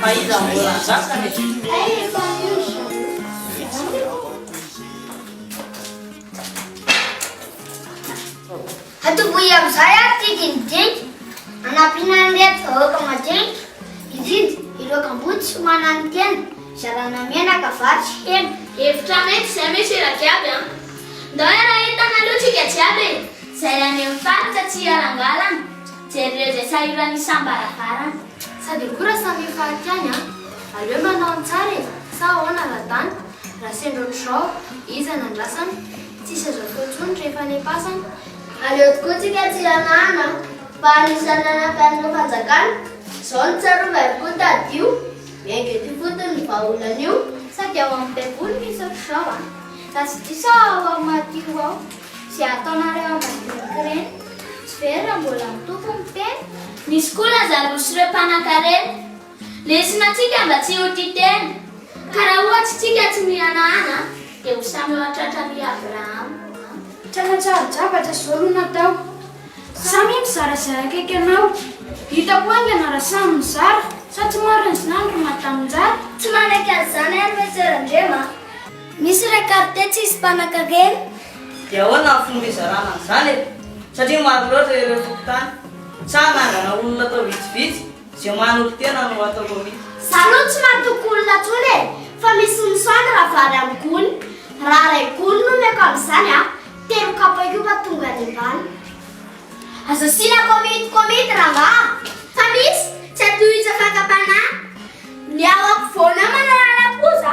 Fa iza mbola hanjaka Hatoboy amin'izay ary ity dinidinika hanampiana an'ireto vahoaka madinika hividy ireo kamboty sy manana tena hizarana menaka, vary sy hena. Hevitra mety izay misy eraky aby an! Ndao iaraha entana aloha tsika jiaby e! Izay any amin'ny faritra tsy hiharangalana, jereo izay sahiran'ny isam-baravarana. Sa de koa ra samy hifarika any an! Aleo manao ny tsara e! Sa ahoana ra Dan? Ra sendra otrzao, iza no andrasana? Tsisy azo atao intsony rehefa any am-pasana? Aleo tokoa tsika tsy hanahana an! Fa anisan'ny nanampy an'ireo fanjakana izao ny tsarovy ary koa tadidio! Miainga eto ifotony ny vahaolana io! Sa de ao amin'ny baiboly misy otrzao an? Raha tsy diso aho ao amin'ny Matio ao. Ze ataonareo ambadinika reny tsy very raha mbola mitoko ny tena. Misy koa lazarosy reo mpanakarena lesona tsika mba tsy ho tia tena ka raha ohatsy tsika tsy mihanahana dia ho samy eo atratra ry Abraham a. Tranantsary drabatra zao no natao samy mizara zay akaiky anao hitako aingana raha samy mizara sa tsy marina zany ry madaminjara. Tsy manaiky an'izany ary Monsieur Randriama a. Misy re carte tsisy mpanankarena? Dia ahoana ny fomba hizarana an'izany e? Satria maro loatra ireo fokontany. Sa hanangana olona atao vitsivitsy? Ze manompo tena no atao komity. Za aloha tsy matoky olona tsony e, fa misy misaoty raha vary amin'ny gony. Raha ray gony no omeko amin'izany a, telo kapaioba tonga any ambany. Aza asiana komity komity rangaha fa misy tsy atohizan'ny fakam-panahy. Ny ao ampovoany ao manao lalapoza.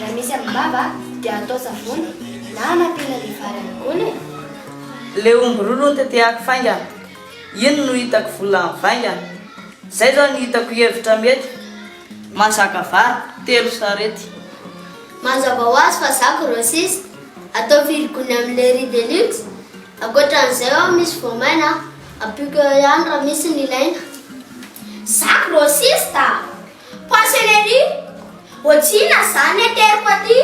Raha misy amin'ny vava dia atao savony na anapena le vary any gony e! Le omby roa notetehako fainga iny no hitako vola mivainga Zay zao ny hitako hevitra mety Mahazaka vary telo sarety. Mazava ho azy fa za grossiste Atao firy gony amin'ny le riz de luxe Ankoatran'izay ao misy voamaina Ampiako eo ihany raha misy ny ilaina Za grossiste a! Pois celery, otrina zany ateriko aty,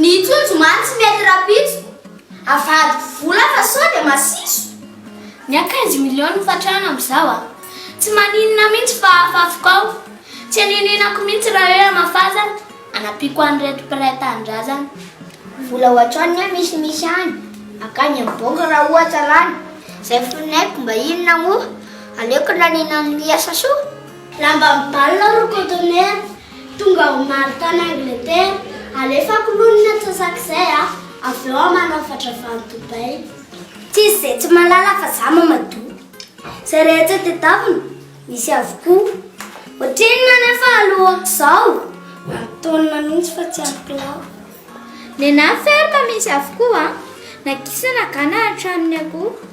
ny trondro man tsy mety rapitso, avadiko vola fa sao de masiso. Mia quinze millions ny fatrana amzao a! Tsy maninona mintsy fa afafiko ao, tsy anininako mintsy ra hoe amafazana, anapiko anreto mpiray tanindrazana. Vola ohatran ny hoe misy misy any akany am banky ra ohatra lany, zay finoeko mba inona moa, aleoko laniana am miasa soa. Lamba mibalona roa conteneur tonga ao Mary tany Angleterre alefako lony ny atsasak'izay a avy eo aho manao fatrava any Dubaï. Tsisy zay tsy malala fa za mamadoa Zay rehetra tedavina misy avokoa Ohatrinona anefa alohako zao Antonona mintsy fa tsy ampilao Nenaha ferme misy avokoa Na gisa na gana hatramin'ny akoho.